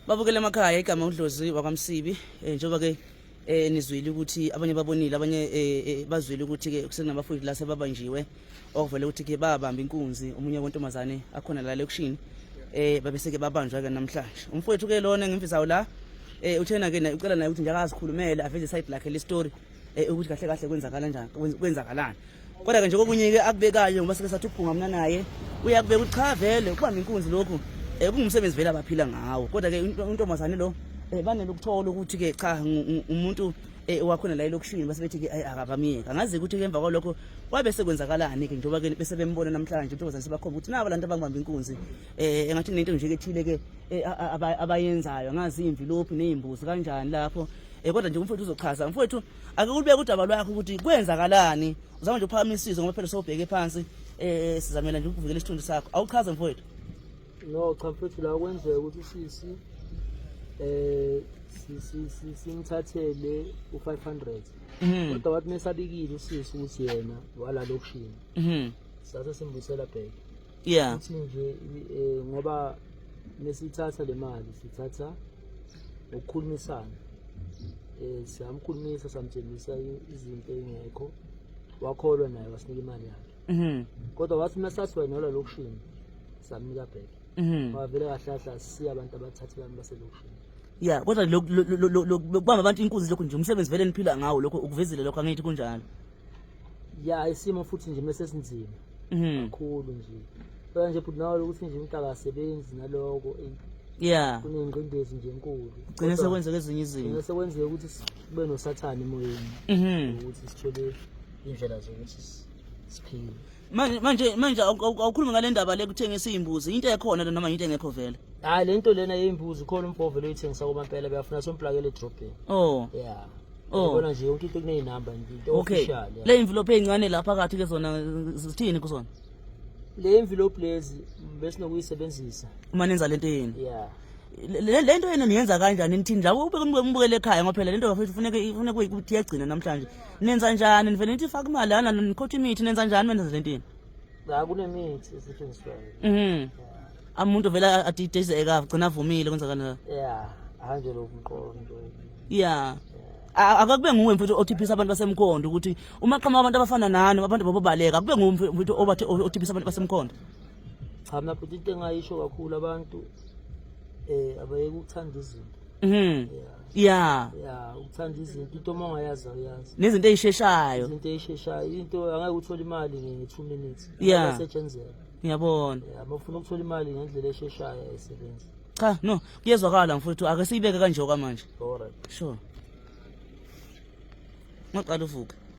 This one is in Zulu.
babukele emakhaya igama udlozi wakwamsibi um eh, njengoba-ke um eh, nizwile ukuthi abanye babonile abanye um bazwile ukuthi-ke kusenabafundi la sebabanjiwe okuvele ukuthi-ke babamba inkunzi omunye wentombazane akhona la lekishini um babeseke babanjwa-ke namhlanje umfowethu-ke lona ngemvisawo la um uthena-ke ucela naye ukuthi njake azikhulumele aveze isayidi lakhe le story eh, ukuthi kahle kahle kwenzakala njani kwenzakalani kodwa ke nje kokunye ke akubekayo ngoba sike sathi uphunga mina naye uyakubeka ukuthi cha vele ukubamba inkunzi lokhu eh kungumsebenzi vele abaphila ngawo kodwa ke intombazane lo eh banele ukuthola ukuthi ke cha umuntu eh wakhona la elokushini base bethi ke ayi akabamiyeka angazi ukuthi ke emva kwalokho wabe sekwenzakalani ke njengoba ke bese bembona namhlanje intombazane sebakhomba ukuthi nabo lantu abangibamba inkunzi eh engathi nento nje ke thile ke eh, abayenzayo angazi imvilophi nezimbuzi kanjani lapho Eh kodwa nje umfowethu uzochaza. Mfowethu ake ulibeke udaba lwakho ukuthi kwenzakalani. Uzama nje ukuphakamisa isizwe ngoba phela sobheke phansi eh sizamela nje ukuvikela isithunzi sakho. Awuchaze mfowethu. No cha mfowethu la kwenzeka ukuthi sisi eh simthathele u-500 mhm. kodwa wathi mesabikile usisi ukuthi yena wala lokushini mhm. sase simbuyisela bheke yeah ukuthi nje eh, ngoba nesithatha le mali sithatha ngokukhulumisana eh siyamkhulumisa samtshengisa i- izinto engekho wakholwa naye wasinika imali yakhe mhm kodwa wathi uma sasiwayinola lokushini samnika back mhm wavele kahlahla siya abantu abathathe abantu baselokushini yeah kodwa lo- lo- lo- lo- lo- kubamba abantu inkunzi lokho nje umsebenzi vele niphila ngawo lokho ukuvezile lokho angithi kunjalo ya isimo futhi nje mese sinzima Mhm. kakhulu nje phela nje bhuti nawe ukuthi nje umntaka asebenzi naloko eyi, Yeah. kunengqindezi nje enkulu Gcine Kodwa sekwenzeka ezinye gcine izinto. sekwenzeka ukuthi sibe nosathane emoyeni Mhm. ukuthi sithole indlela zokuthi si- siphile manje manje manje awukhulumi ngale ndaba le kuthengisa iy'mbuzi into ekhona le noma into engekho vele hayi le nto lena yey'mbuzi khona umfove loyithengisa kobampela beyafuna somplakela edrobheni oh yeah Oh. Bona nje yonke into kuneyinamba nje into official. Okay. Le envelope ezincane lapha kathi ke zona zithini kuzona? Le envelope lezi bese nokuyisebenzisa. Uma nenza lento yini? Yeah. le nto yena niyenza kanjani nithini la ubeke umbukele ekhaya ngoba phela le nto kufuneka kufuneka ukuthi iyagcina namhlanje nenza njani nivele nithi faka imali ana nikhotha imithi nenza njani menza lentini cha kunemithi esetshenziswayo mhm amuntu vele adidezeka agcina avumile kwenzakala ya hanje lo mqondo ya A- akakube nguwe mfethu othiphisa abantu basemkhondo ukuthi uma qhamuka abantu abafana nani abantu babobaleka akube nguwe mfe- mfethu obathe othiphisa abantu basemkhondo cha mina futhi into engayisho kakhulu abantu eh abayeke ukuthanda izinto mhm ya ya ya uthanda izinto into uma ungayazi awuyazi nezinto ey'sheshayo izinto ey'sheshayo into angeke uthole imali nge-two minutes Yeah. asetshenzela ngiyabona uma ufuna ukuthola imali ngendlela esheshayo ayisebenzi cha no kuyezwakala mfowethu ake siyibeke kanje okwamanje alright sure ngoqala uvuke